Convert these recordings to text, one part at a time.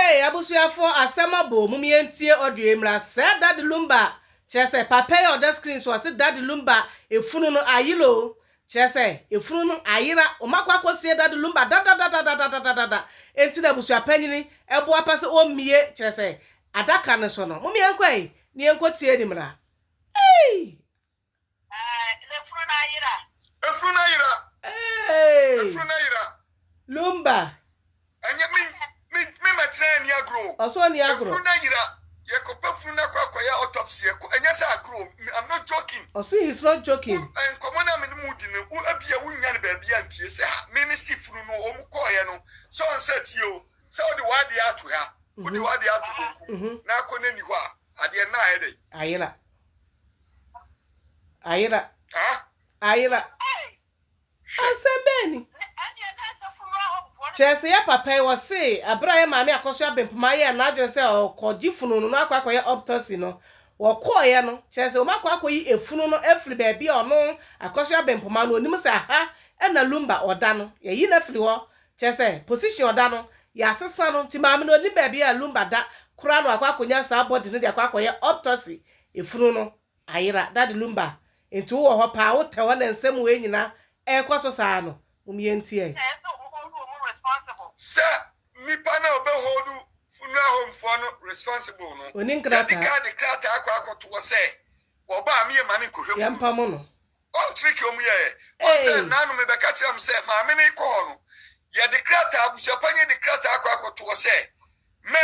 Eeii abusuafoɔ asɛm aboo mom yɛn ntie audio yi mmra sɛɛ daddy lumba kyerɛ sɛ papa yi a ɔda screen so ɔse daddy lumba efunu no ayera oo kyerɛ sɛ efunu no ayera wɔn akɔ akɔ sie daddy lumba dadadadadadadadada enti na abusua panyini boapa sɛ ɔmmie kyerɛ sɛ adaka no so no mom yɛnkɔ ei ne yɛnkɔ tie ni mmra eeii. Eh, efunu na ayera. Efunu na ayera. Hey. Efunu na ayera. Lumba. Ɛnyɛ mi mi mi ma tena ni agro. Ɔsɔ ni agro. Efunu na ayera. Yɛ kɔpɛ funu na kɔ akɔyɛ autopsy yɛ kɔ ɛnyɛ sɛ agro I'm not joking. Ɔsɔ he's not joking. Nkɔmɔ na mi ni mu di no wo ebi a wo nya no baabi a ntie sɛ ha mi mi si funu no wɔn kɔɔ yɛ no sɛ wɔn sɛ tie o sɛ ɔde wɔn adeɛ ato ha. Wode w'adeɛ ato bonkum na akɔ n'ani hɔ a adeɛ no ayɛ dɛn? Ayera. Ayera. Ayera. Asɛm bɛn ni? Kyerɛ sɛ yɛ papa yi wɔse abere a yɛ maame akɔ so abempoma yɛ n'adwene sɛ ɔkɔgye funu no na akɔ akɔyɛ optosi no wɔkɔɔyɛ no kyerɛ sɛ wɔn akɔ akɔyi efunu no afiri baabi a ɔno akɔ so abempoma no onim sɛ aha ɛna lumba ɔda no yɛyi no afiri hɔ kyerɛ sɛ position ɔda no yɛasesa no nti maame no onim baabi a lumba da koraa na wakɔ akɔnya saa body no de akɔ akɔyɛ optosi Efunu no ayera. Daddy Lumba, nti wowɔ hɔ paa, wotɛ hɔ na nsɛm wei nyina ɛɛkɔ so saa no? Mom yɛntie ai. Ɛyɛ sɛ ɔmo hold ɔmo responsible. Sɛ nipa no a ɔbɛ hold funeral home foɔ no responsible no, Ɔni nkrataa. Yɛdi kan de krataa akɔ akɔtoɔ sɛ wɔba a meyɛ maame nkɔhwɛ funu no. Yɛmpamo no. Wɔn trick a ɔmo yɛɛ. Wɔn sɛ Ei! naanom ɛbɛka kyerɛ me sɛ maame no rekɔ hɔ no, yɛde krataa, abusuapanyini de krataa akɔ akɔtoɔ sɛ mɛ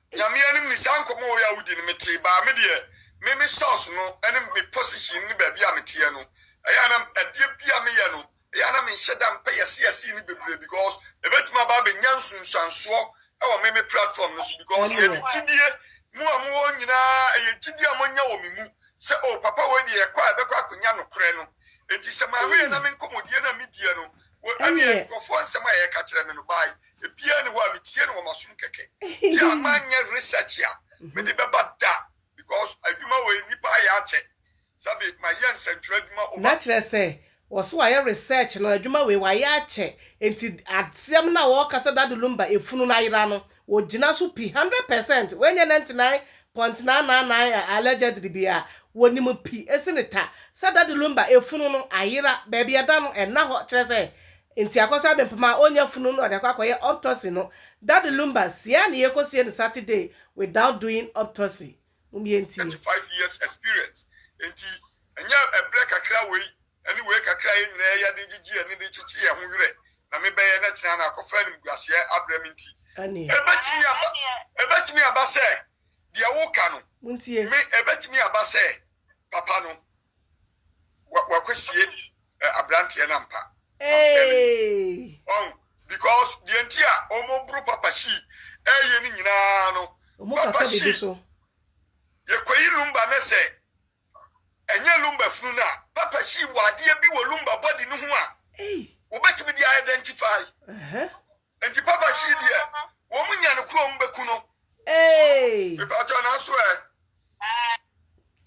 Nyame anim ne saa nkɔmɔ wei a wodi no me tee baa me deɛ me me source no ɛne me position ne baabi a me teɛ no ɛyɛ a na adeɛ bi a me yɛ no ɛyɛ a na me nhyɛ da mpɛ yɛse yɛse no bebree because ɛbɛtumi aba abɛ nya nsunsuansoɔ ɛwɔ me me platform no so because yɛde gyidie mo a mo wɔ nyinaa ɛyɛ gyidie a mo anya wɔ me mu sɛ oh papa wei deɛ yɛkɔ a yɛbɛkɔ akɔ nya nokorɛ no enti sɛ maame yɛ na me nkɔmɔdie no a me diɛ no Ɛnneɛ. Nkurɔfoɔ nsɛm a yɛka kyerɛ me no by ebiaa nni hɔ a me tie no wɔ m'asom kɛkɛ deɛ a manyɛ research a mede bɛba da because adwuma wei nnipa ayɛ akyɛ sɛbe mayɛ nsɛntwerɛ adwuma over. Na kyerɛ sɛ wɔ so wayɛ research no adwuma wei wayɛ akyɛ nti asɛm no a wɔɔka sɛ Daddy Lumba efunu no ayera no Wɔgyina so pi hundred percent, wei nyɛ nantenan pɔntenaa naanan a allegedly bi a, wɔnim pi sene ta sɛ Daddy Lumba efunu no ayera, baabi a ɛda no ɛnna hɔ, kyerɛ sɛ nti Akɔsɔ Abempem a ɔnnya funu no a ɔde akɔ akɔyɛ optocy no, Daddy Lumba sie a ne yɛ kɔsie no Saturday without doing optocy. Mom yɛntie. Thirty five years experience, enti ɛnyɛ ɛbrɛ kakra wei Ɛne wei kakra a yɛn nyinaa yɛ de gyegye yɛn ani de kyekye yɛn ho werɛ na mebɛyɛ na kyena no akɔfa animguaseɛ abrɛ me nti, ɛbɛtumi aba, ɛbɛtumi aba sɛ deɛ woka no, me, ɛbɛtumi aba sɛ papa no wa, wakɔsie eh, aberanteɛ no ampa. I'm telling you. Hey! Ɔn, because deɛ nti a wɔboro papa shi ɛyɛ no nyinaa no, Ɔmo papa kata shi, biribi so. yɛkɔyi lumba ne sɛ Ɛnyɛ lumbar funu no a Papa hyii wɔ adeɛ bi wɔ lumbar body no ho a wɔbɛtumi de a identify. Nti Papa hyii deɛ wɔn nya no koro wɔn bɛku no. Mepakyɛw nanso ɛ.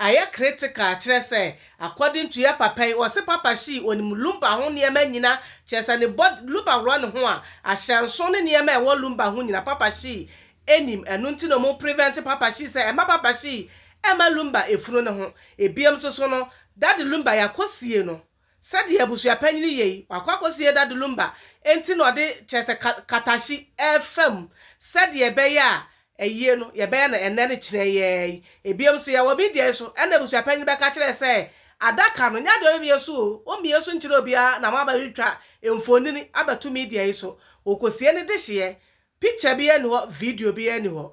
Ayɛ critical kyerɛ sɛ according to yɛ Papa yi ɔse Papa hyii ɔnim lumbar ho nneɛma nyina kyerɛ sɛ ne body lumbar wura ne ho a ahyɛnso ne nneɛma a ɛwɔ lumbar ho nyina Papa hyii Ɛnim ɛno nti na ɔmo prevent papa shi sɛ ɛmma papa shi ɛmma lumba ɛfunu ne ho. Ɛbiam nso so no daddy lumba yɛakɔ sie no sɛdeɛ abusua panyini yei wakɔ akɔ sie daddy lumba ɛnti na ɔde kyerɛ sɛ ka kata shi ɛfa mu sɛdeɛ ɛbɛyɛ a ayie no yɛbɛyɛ no ɛnnɛ ne kyenɛ yɛɛ yi. Ɛbiam nso yɛwɔ media yi so ɛna abusua panyini bɛka kyerɛ sɛ adaka no nyɛ adeɛ ɔbɛmie so o ɔmmie so nkyerɛ obiara na mo abɛtwa mfonini abɛto media yi so ɔkɔ sie ne dehyeɛ Picture biaa nni hɔ video biaa nni hɔ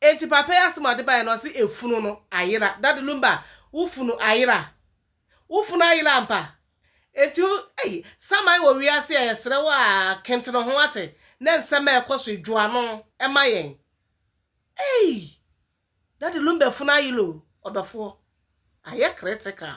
enti papa yi asɛm a ɔde baeɛ no ɔse efunu no ayera daddy lumba wo funu ayera wo funu ayera ampa enti wo ei saman wɔ wiase a yɛsrɛ wo aa kentene ho wate na nsɛm a ɛkɔ so yi dwo ano ma yɛn ei daddy lumba funu ayera o ɔdɔfoɔ ayɛ critical.